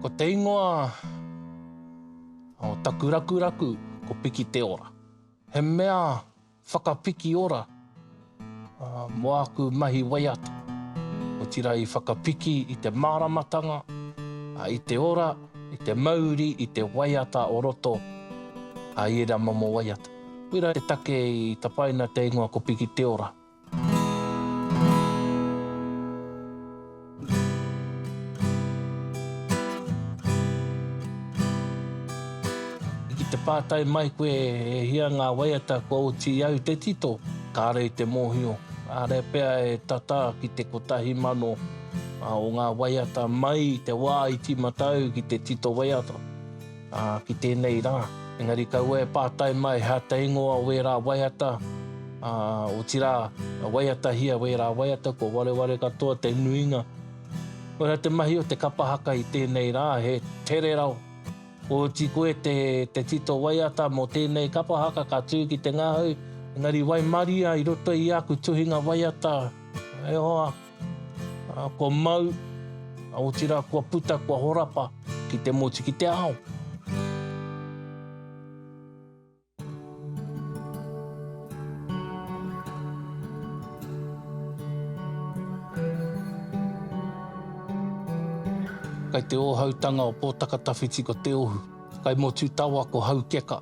Ko te ingoa o taku rakuraku ko Piki te Ora. He mea... Whakapiki ora mō āku mahi waiata, otirā i whakapiki i te māramatanga, i te ora, i te mauri, i te waiata o roto i ērā momo waiata. Koirā te take i tapaina te ingoa ko Piki Te Ora. Ki te pātai mai koe e hia ngā waiata kua oti au te tito, kāore i te mōhio. Kāre pea e tata ki te kotahi mano o ngā waiata mai i te wā i tīmata au ki te tito waiata. Ā, ki tēnei rā. Engari kaua e pātai mai he ata ingoa o ērā waiata, ā, otirā, waiatahia ērā waiata, kua wareware katoa te nuinga. Koirā te mahi o te kapa haka i tēnei rā, he tere rau. Kua oti koe te, te tito waiata mō tēnei kapa haka ka tū ki te ngahau, engari waimaria i roto i āku tuhinga waiata, e hoa. Kua mau, otirā kua puta, kua horapa ki te motu, ki te ao. Kai te ōhautanga o Pōtakatawhiti ko Te Ohu, kai Motutawa ko Haukeka.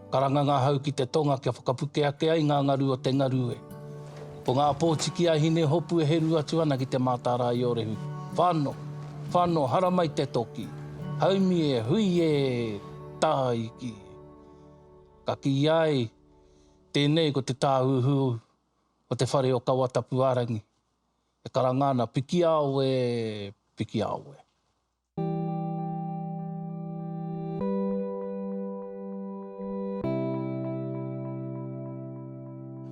Karanga ngā hau ki te tonga kia whakapuke ake ai ngā ngaru o te ngaru e. Ko ngā pōtiki a Hinehopu e heru atu ana ki te Mātārā-i-ōrehu. Whano! Whano! Haramai te toki! Haumi e! Hui e! Tāiki! Ka kīia ai, Tēnei ko te tāhuhu o te whare o Kawatapuārangi, e karanga ana, Pikiao e! Pikiao e!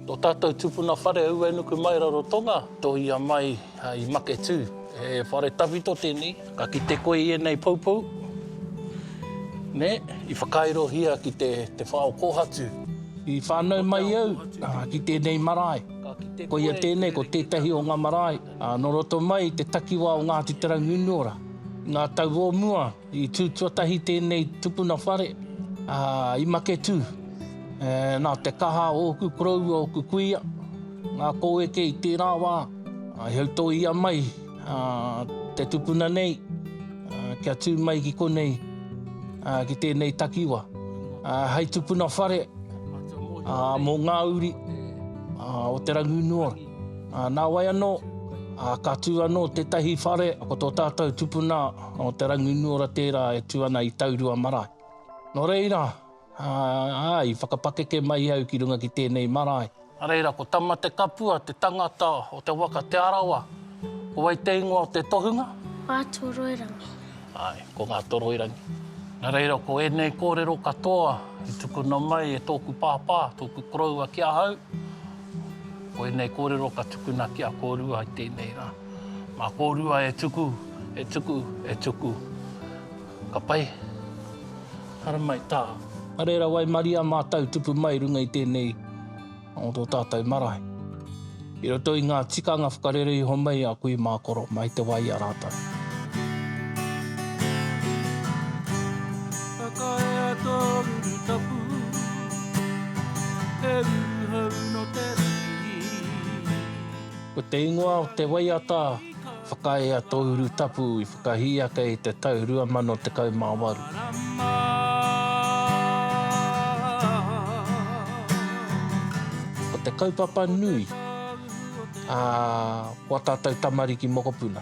Tō tātou tupuna whare aua e nuku mai Rarotonga, tohia mai i Maketū. He whare tawhito tēnei, ka kite koe i ēnei poupou, nē, i whakairohia ki te whā o Kōhatu. I whānau mai au ki tēnei marae, koia tēnei, ko tētahi o ngā marae. Nō roto mai i te takiwā o Ngāti Te Rangiunuora, i ngā tau o mua, i tū tuatahi tēnei tupuna whare i Maketū. Nā te kaha o ōku koroua, ōku kuia, ngā kōeke i tērā wā, i hautoia mai te tupuna nei kia tū mai ki konei, ki tēnei takiwā. Hei tupuna whare mō ngā uri o Te Rangiunuora. Nā wai anō, ka tū anō tētahi whare, ko tō tātou tupuna o Te Rangiunuora tērā e tū ana i Taurua marae. Nō reira, i whakapakeke mai au ki runga ki tēnei marae. Nā reira, ko Tamatekapua te tangata o te waka Te Arawa, ko wai te ingoa o te tohunga? Ngātoroirangi. Āe, ko Ngātoroirangi. Nā reira, ko ēnei kōrero katoa i tukuna mai e tōku pāpā, tōku koroua ki ahau, Ko ēnei kōrero ka tukuna ki a kōrua i tēnei rā. Mā kōrua e tuku, e tuku, e tuku. Ka pai. Haramai tā. Nā reira waimaria mātou tupu mai runga i tēnei o tō tātou marae. I roto i ngā tikanga whakarere iho mai a kui mā koro mai te wā i a rātou. Whakaea tō ruru tapu, he ruru hou nō te rangi. Ko te ingoa o te waiata Whakaea tō ruru tapu i whakahī ake i te tau 2018. Marama Ko te kaupapa nui, ā, ko ā tātou tamariki mokopuna.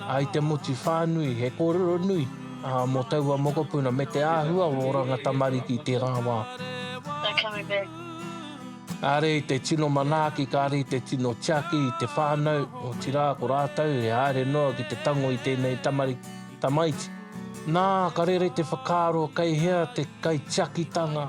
I te motu whānui he kōrero nui mō taua mokopuna me te āhua o oranga tamariki i tērā wā. They coming back. Kāre i te tino manaaki, kāre i te tino tiaki i te whānau, otirā ko rātou e haere noa ki te tango i tēnei tamariki, tamaiti. Nā, ka rere te whakaaro kei hea te kaitiakitanga.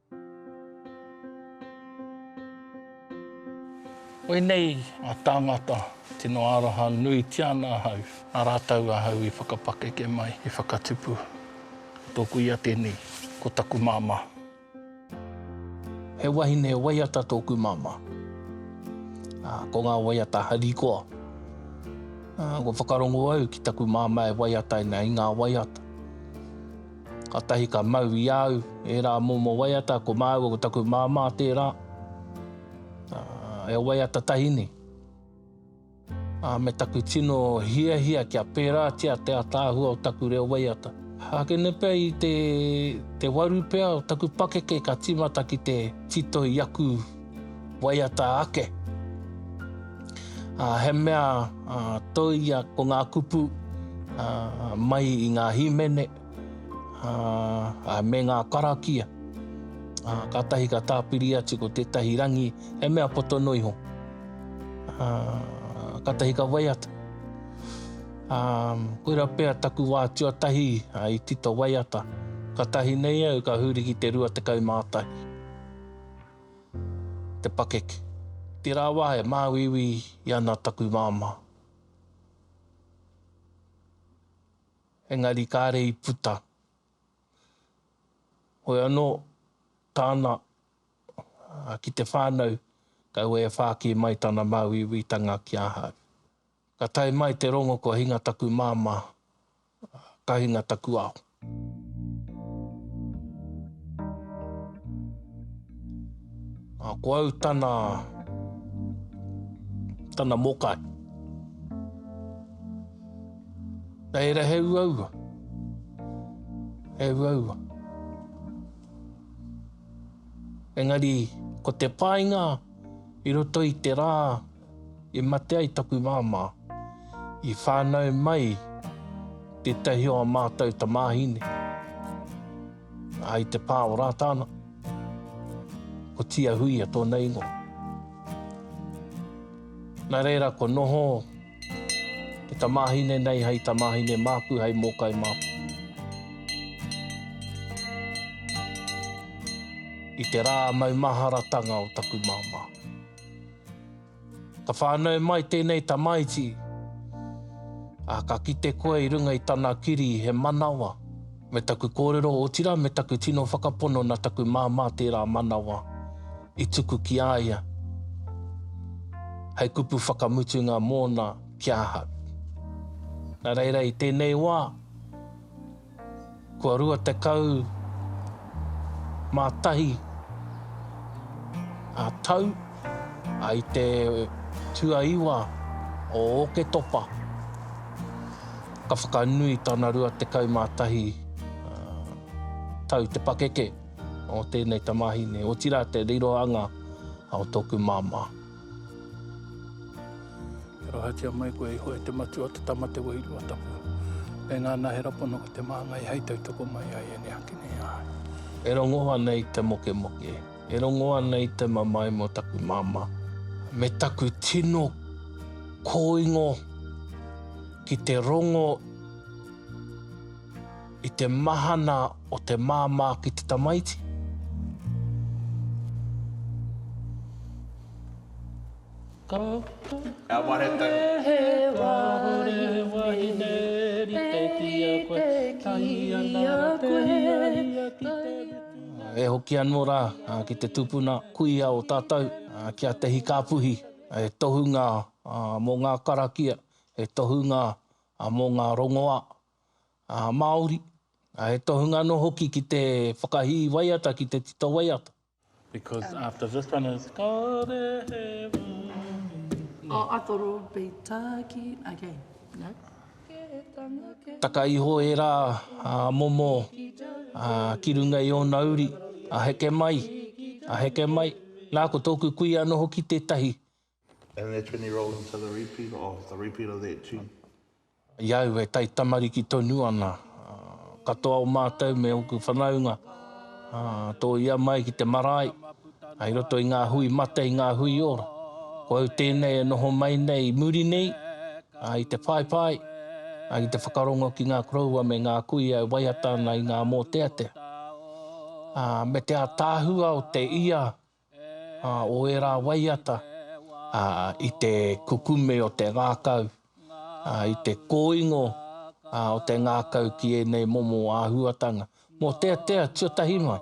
Koinei a tangata, tino aroha nuitia ana ahau, na ratou ahau i whakapakeke mai, i whakatupu. Ko toku ia tenei, ko taku mama. He wahine waiata toku mama, a ko nga waiata hari koa. Ko whakarongo au ki taku mama e waiataina i nga waiata. Katahi ka mau i au ērā momo waiata, ko māua ko taku māmā tērā, e waiata tahi nei. Me taku tino hiahia kia pērātia te ataahua o taku reo waiata. Hākene pea i te waru pea o taku pakeke ka tīmata ki te tito i aku. waiata ake. Uh, he mea uh, toia ko ngā kupu uh, mai i ngā hīmene uh, uh, me ngā karakia. Uh, ka tahi ka tāpiri atu ko tētahi rangi, he mea poto no iho. Uh, ka tahi ka waiata. Um, koira pea taku wā tuatahi uh, i tito waiata. Ka tahi nei au ka huri ki te rua te kaumātai. te pakeke. Tērā wā e māuiui i ana taku māmā. Engari kāre i puta. Hoi anō, tāna ki te whānau, kaua e whāki mai tana māuiuitanga ki ahau. Ka tae mai te rongo kua hinga taku māmā ka hinga taku ao. A, ko au tana, tana mokai. Reira he uaua, he uaua. Engari, ko te painga i roto i te rā, I mate ai taku māmā, i whānau mai tētahi o ā mātou tamāhine, ā, i te pā o Rātana, ko Tiahuia tōna ingoa. Nā reira, kua noho te tamāhine nei hei tamāhine māku, hei mōkai māku. I te rā maumaharatanga o taku māmā. Ka whānau mai tēnei tamaiti, ā, ka kite koe i runga i tana kiri he manawa, me taku kōrero, otirā me taku tino whakapono nā taku māmā tērā manawa i tuku ki a ia hei kupu whakamutunga mōna ki ahau. Nā reira i tēnei wā, Kua 21 ngā tau i te tuaiwa o Ōketopa, ka whakanui tana 21 tau te pakeke o tēnei tamāhine, otirā te rirohanga o tōku māmā. E rahatia mai koe iho e te matua, te tama, te wairua tapu. Me ngā nahera pono ki te māngai hei tautoko mai ai e neaki nei ai. E rongo ana i te mokemoke, e rongo ana i te mamae mō taku māmā, me taku tino kōingo ki te rongo. I te mahana o te māmā ki te tamaiti. Ka wehe wāhine wahine rite ki a koe, tahi ana rā te hiahia ki te whitinga. E hoki anō rā ki te tupuna kuia o tātou, ki a Te Hikāpuhi, he tohunga mō ngā karakia, he tohunga mō ngā rongoā, Māori, ā, he tohunga anō hoki ki te whakahī waiata, ki te tito waiata. Because after this one is Kāore he wāhi. Oh, I thought it would be Tāki, okay, no. Taka iho ērā momo ki runga i ōna uri, a heke mai, a heke mai. Nā, ko tōku kuia anō hoki tētahi And that's when you roll into the repeat or the repeat of that tune. I au e taitamariki tonu ana, katoa o mātou me ōku whanaunga, tōia mai ki te marae, i roto i ngā hui mate, i ngā hui ora. Ko au tēnei e noho mai nei i muri nei, i te whaiwhai, i te whakarongo ki ngā koroua me ngā kuia e waiata ana i ngā mōteatea. Me te ātaahua o te ia ā, o ērā waiata, ā, i te kukume o te ngākau, ā, i te kōingo, ā, o te ngākau ki ēnei momo āhuatanga, mōteatea tuatahi mai.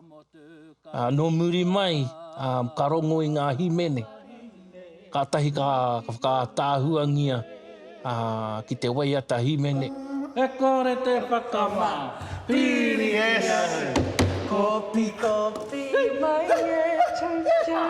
Ā, nō muri mai, ā, ka rongo i ngā himene. Kātahi ka whakaataahuangia ki te waiata hīmene. E kore te whakama piri e au. Kopi kopi mai e chou chou.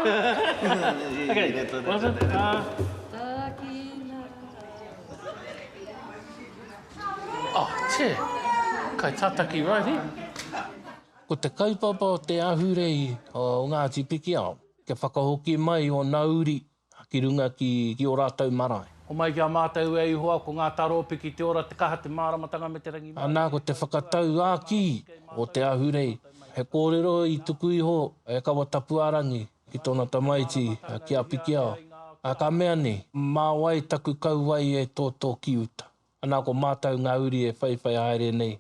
Ko te kaupapa o te ahurei o Ngāti Pikiao. Kia whakahoki mai o na uri ki runga ki ki o ratou marae. Homai ki a matou e Ihowa ko nga taro piki te ora te kaha te maramatanga me te rangi mai. Ana ko te whakatau a ki o te ahurei he korero i tuku iho e Kawatapuarangi ki tona tamaiti a ki a Pikiao a ka mea ni ma wai taku kauae e toto ki uta. Ana ko matou nga uri e whaiwhai haere nei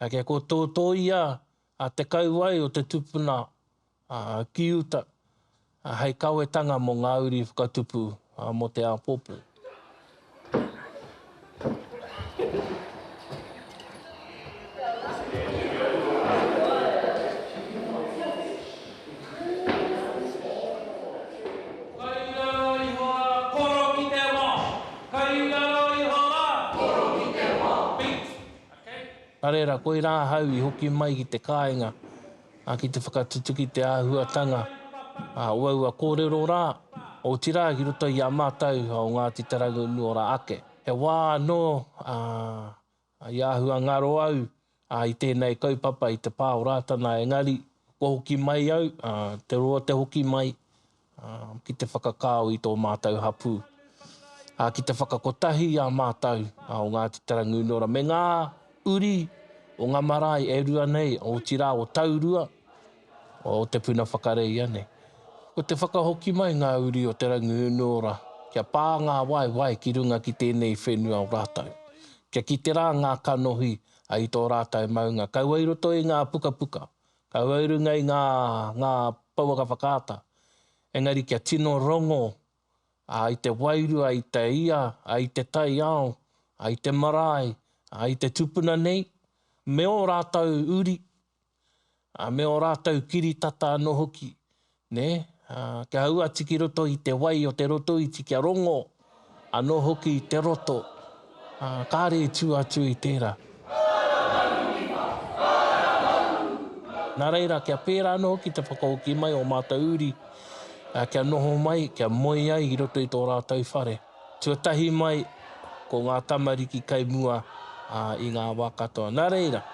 ake ko toto ia A te kauae o te tupuna ki uta hei kawetanga mo nga uri whakatupu mo te apopo. Nā reira, koirā ahau i hoki mai ki te kāinga ki te whakatutuki te āhuatanga o aua kōrero rā, otirā ki roto i a mātou o Ngāti Te Rangiunuora ake. He wā anō i āhua ngaro au i tēnei kaupapa i te pā o Rātana engari kua hoki mai au, te roa te hoki mai, ki te whakakao i tō mātou hapū, ā, ki te whakakotahi i a mātou o Ngāti Tarangunora me ngā uri o ngā marae e rua nei, otirā o Taurua, o Te Puna Whakareia nei. Ko te whakahoki mai ngā uri o Te Rangiunuora kia pā ngā waewae ki runga ki tēnei whenua o rātou, kia kite rā ngā kanohi i tō rātou maunga, kaua i roto i ngā pukapuka Kaua i runga i ngā, ngā pouaka whakaata. Engari kia tino rongo, ā, i te wairua, i te ia, ā, i te taiao, ā, i te marae, ā, i te tupuna nei, me ō rātou uri, ā, me ō rātou kiritata anō hoki, Nē? Ā, kia ū atu ki roto i te wai o te roto iti kia rongo anō hoki i te roto, ā, kāre e tū atu i tērā. Nā reira, kia pērā anō hoki te whakahoki mai o ō mātou uri, ā, kia noho mai, kia moe ai i roto i tō rātou whare, tuatahi mai ko ngā tamariki kai mua, ā, i ngā wā katoa. Nā reira,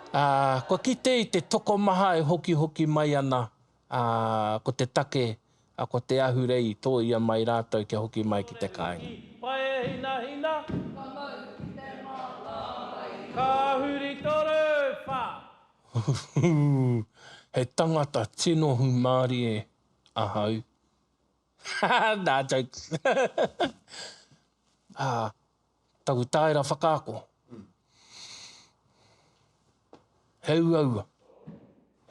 Ā, kua kite i te tokomaha e hokihoki mai ana, ā, ko te take, ā, ko te ahurei i tōia mai rātou kia hoki mai ki te kāinga. Paehinahina Kua mau ki te mātāwai i tō. Ka huri toru, wha. Huhuu, he tangata tino hūmārie ahau. Nā, jokes. Ā, taku tāera whakaako, he uaua,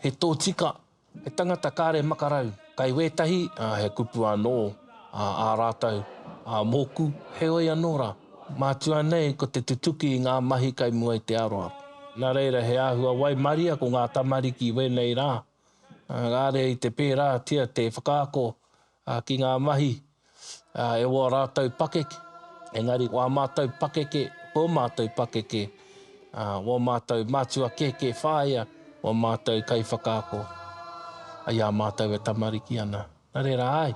he tōtika, he tangata kāre makarau, kai wētahi, ā, he kupu anō, ā, ā rātou, ā, mōku, heoi anō rā, mātua nei ko te tutuki i ngā mahi kai mua i te aroaro. Nā reira, he āhua waimaria ko ngā tamariki i wēnei rā, Engari i te pērātia te whakaako ki ngā mahi e wā rātou pakeke, engari wā mātou pakeke, wō mātou pakeke, wō mātou mātua kēkē whāea, wō mātou kaiwhakaako, i a mātou e tamariki ana. Nā reira, āe,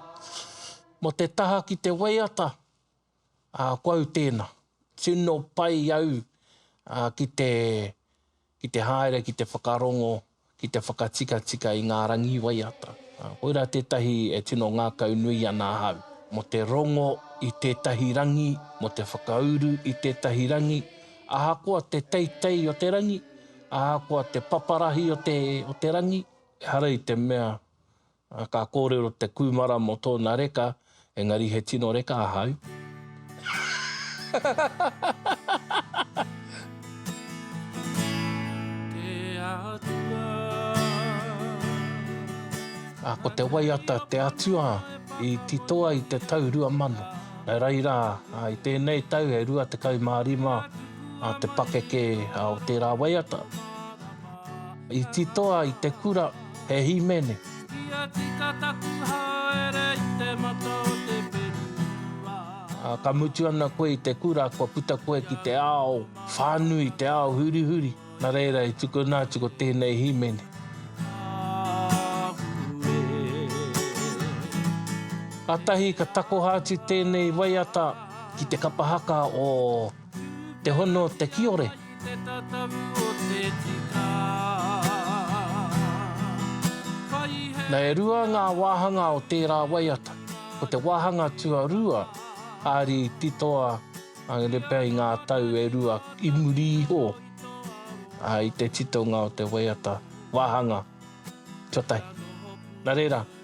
mō te taha ki te waiata, ko au tēnā. Tino pai au ki te ki te haere ki te whakarongo, ki te whakatikatika i ngā rangi waiata. Koirā tētahi e tino ngākau nui ana ahau, mō te rongo i tētahi rangi, mō te whakauru i tētahi rangi, ahakoa te teitei o te rangi, ahakoa te paparahi o te rangi, ehara i te mea A ka kōrero te kūmara mō tōna reka, engari he tino reka ahau. A ko te waiata te atua i titoa i te tau rua mano. Nō reira, i tēnei tau e rua tekau mā rima te pakeke o tērā waiata. I titoa i te kura. He hīmene. Kia tika taku haere i te mata o te whenua. Ka mutu ana koe i te kura, kua puta koe ki te ao whānui, te ao hurihuri. Nā reira i tukuna atu ko tēnei hīmene. Kātahi ka takoha atu tēnei waiata ki te kapa haka o. Te hono te kiore. Te tatavu o te tika. Na e rua nga wahanga o tera waiata, ko te wahanga tuarua ari titoa ngere pea i nga tau e rua i muri iho i te titonga o te waiata wahanga tuatahi. Na rera.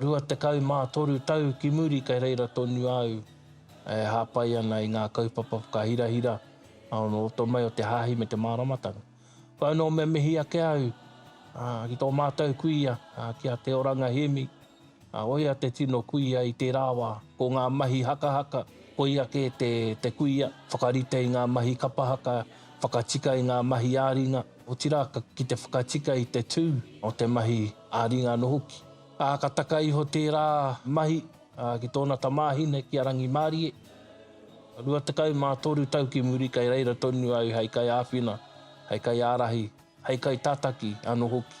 Rua tekau mā toru tau ki muri kei reira tonu au e hāpai ana i ngā kaupapa whakahirahira o roto mai o te hāhi me te māramatanga. Koia nō mea mihi ake au ki tō mātou kuia, ki a Te Oranga Hemi, ko ia te tino kuia i tērā wā. Ko ngā mahi hakahaka, koia kē te kuia, whakarite i ngā mahi kapa haka, whakatika i ngā mahi ā-ringa. otirā ki te whakatika i te tū o te mahi ā-ringa anō hoki. Ā, ka taka iho tērā mahi ki tōna tamāhine, ki a Rangimārie. Rua tekau mā toru tau ki muri kei reira tonu au hei kaiāwhina, hei kaiārahi, hei kaitataki anō hoki.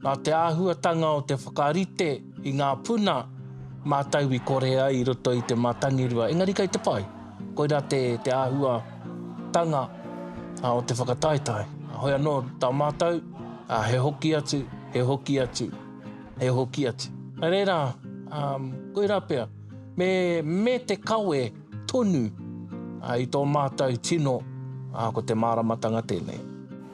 Nā te āhuatanga o te whakarite i ngā puna mātou i kore ai i roto i te mātangirua, engari kei te pai. Koirā te, te āhuatanga o te whakataetae. Hoi anō tā mātou, he hoki atu, he hoki atu, he hoki atu. Nā reira, koirā pea, me, me te kawe tonu i tō mātou tino, ko te māramatanga tēnei.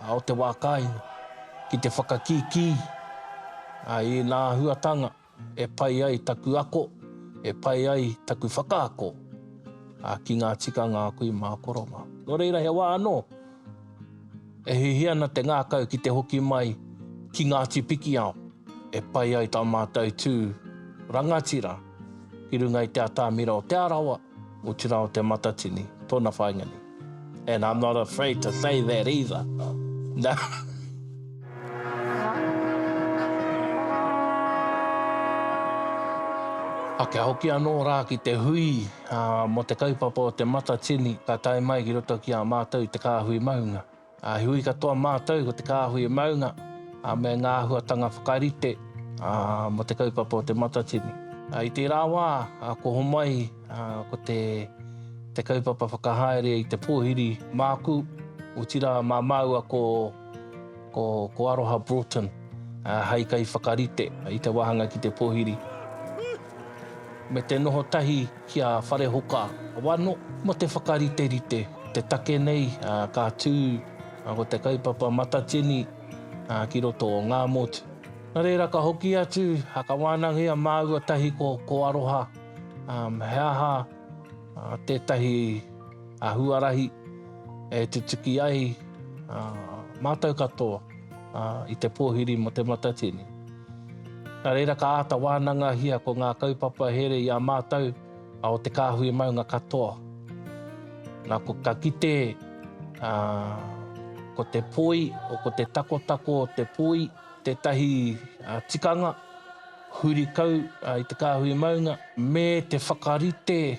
A o te wā kāinga, ki te whakakīkī i ngā āhuatanga e pai ai taku ako, e pai ai taku whakaako ki ngā tikanga a kui mā Korova. Nō reira he wā anō e hiahia ana te ngākau ki te hoki mai ki Ngāti Pikiao e pai ai tā mātou tū rangatira ki runga i te atamira o Te Arawa, Otirā o Te Matatini tōna whāinga nei. And I'm not afraid to say that either. A kia hoki anō rā ki te hui mō te kaupapa o Te Matatini ka tae mai ki roto ki a mātou te kāhui maunga. Ā, he hui katoa mātou ko te kāhui e maunga, ā, me ngā āhuatanga whakarite, ā, mō te kaupapa o Te Matatini. Ā, i tērā wā, ā, ko Homai, ā, ko te, te kaupapa whakahaere i te pōhiri māku, otirā mā māua ko, ko, ko Aroha Broughton, ā, hei kaiwhakarite i te wāhanga ki te pōhiri. Me te noho tahi ki a Wharehoka Wano mo te whakariterite i te take nei ka tu ko te kaupapa Matatini ki roto o nga motu. No reira ka hoki atu ka wanangia maua tahi ko Aroha he aha tetahi a huarahi e tutuki ai a matou katoa i te pohiri mo te matatini. Na reira ka ata wanangahia ko nga kaupapa here i a matou a o te kahui maunga katoa. Na ko ka kite a ko te poi o ko te takotako o te poi tetahi a tikanga huri kau i te kahui maunga me te whakarite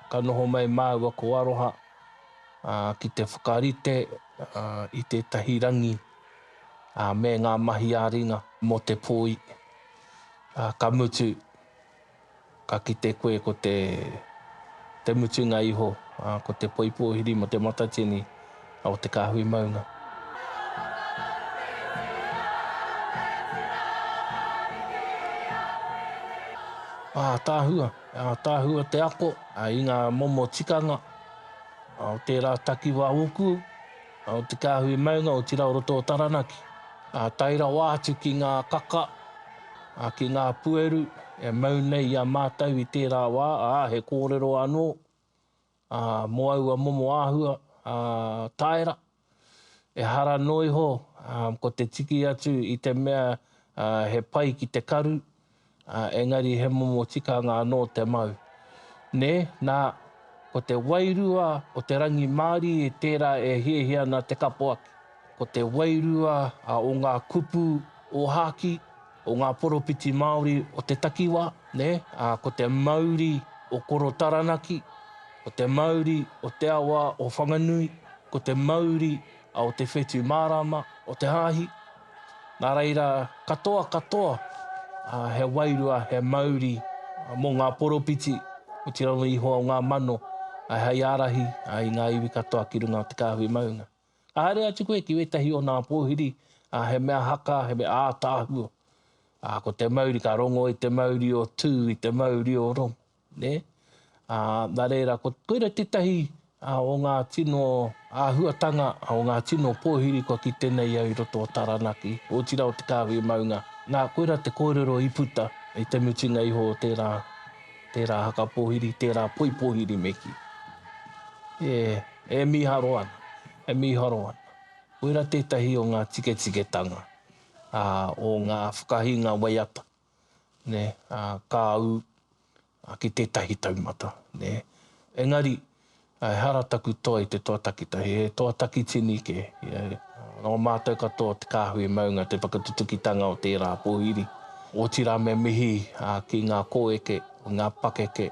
Ka noho mai māua ko Aroha ki te whakarite i tētahi rangi me ngā mahi ā-ringa mō te poi, ka mutu, ka kite koe ko te mutunga iho, ko te poi pōhiri mō Te Matatini o Te Kāhui Maunga. Ātaahua, Ātaahua te ako i ngā momo tikanga o tērā takiwā ōku, o te kāhui maunga, otirā o roto o Taranaki. Tae rawa atu ki ngā kaka, ki ngā pueru e mau nei i a mātou i tērā wā, ā, he kōrero anō. ā, mō aua momo āhua, ā, taera, ehara noa iho, ā, ko te tiki atu i te mea, ā, he pai ki te karu, ā, engari he momo tikanga anō te mau. Nē, nā, ko te wairua o te rangimārie tērā e hiahia ana te kapoaki. Ko te wairua o ngā kupu ōhākī. o ngā poropiti Māori o te takiwā, nē, ā, ko te mauri o Koro Taranaki, ko te mauri o te awa o Whanganui, ko te mauri a o Te Whetū Mārāma, o te Hāhi. Nā reira, katoa katoa, ā, he wairua, he mauri mō ngā poropiti, otirā anō Ihoa o ngā mano, ā, hei ārahi, ā, i ngā iwi katoa ki runga o te kāhui maunga. Ka haere atu koe ki wētahi o nā pōhiri, ā, he mea haka, he mea ātaahua. Ā, ko te mauri, ka rongo i te mauri o Tū, i te mauri o Rongo, nē? Ā, nā reira, ko, koira tētahi o ngā tino āhuatanga, o ngā tino pōhiri kua kite nei au i roto o Taranaki, otirā o Te Kāhui Maunga. Nā, koira te kōrero i puta i te mutunga iho o tērā, tērā haka pōhiri, tērā poi pōhiri me kī. E. E mīharo ana, e mīharo ana. Koira tētahi o ngā tiketiketanga o ngā whakahinga waiata, ka ū ki tētahi taumata. Engari, ehara taku toa i te toa takitahi, he toa takitini kē. Nō mātou katoa te kāhui maunga te whakatutukitanga o tērā pōhiri. Otirā me mihi ki ngā kōeke, ngā pakeke.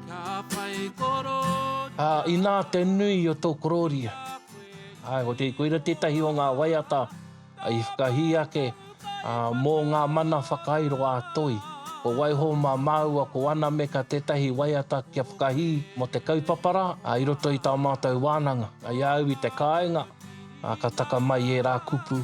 Ā, inā te nui o tō korōria. Āe, ko te, koira tētahi o ngā waiata i whakahī ake ā, mō ngā mana whakairo ā-toi. Ko waiho mā māua ko Anameka tētahi waiata kia whakahī mō te kaupapa rā, ā, i roto i tā mātou wānanga. I a au i te kāinga, ā, ka taka mai ērā kupu.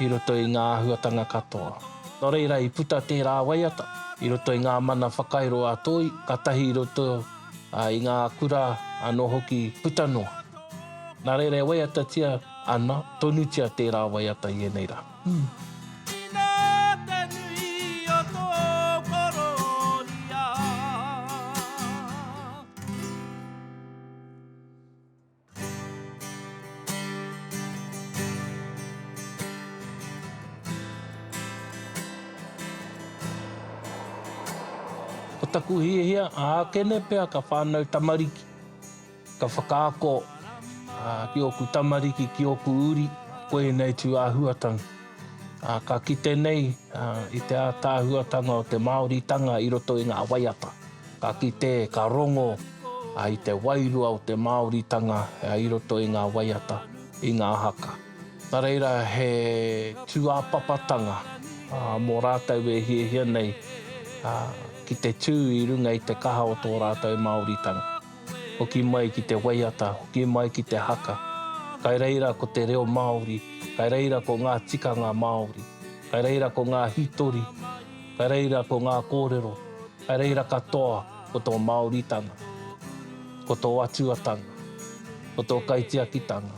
i roto i ngā āhuatanga katoa. Nō reira, i puta tērā waiata i roto i ngā mana whakairo a Toi, kātahi i roto i ngā kura anō hoki puta noa. Nā reira, e waiatatia ana tonutia tērā waiata i ēnei rā. Ina te nui o tō korōria. Ko taku hiahia, ākene pea ka whānau tamariki, ka whakaako ki ōku tamariki, ki ōku uri, ko ēnei tū āhuatanga. Ka kite nei i te ātaahuatanga o te Māoritanga i roto i ngā waiata. Ka kite, ka rongo i te wairua o te Māoritanga i roto i ngā waiata, i ngā haka. Nā reira, he tūāpapatanga mō rātou e hiahia nei ki te tū i runga i te kaha o tō rātou Māoritanga. Hoki mai ki te waiata, hoki mai ki te haka, kai reira ko te reo Māori, kai reira ko ngā tikanga Māori, kai reira ko ngā hītori. Ka reira ko ngā kōrero, ka reira katoa ko tō Māoritanga, ko tō Atuatanga, ko tō Kaitiakitanga,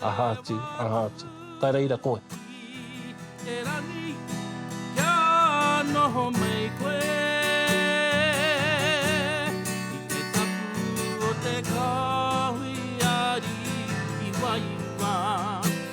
aha atu, aha atu. Ka reira koe. Te rangi, kia noho mai koe I te tapu o te Kāhui Ari i wairua.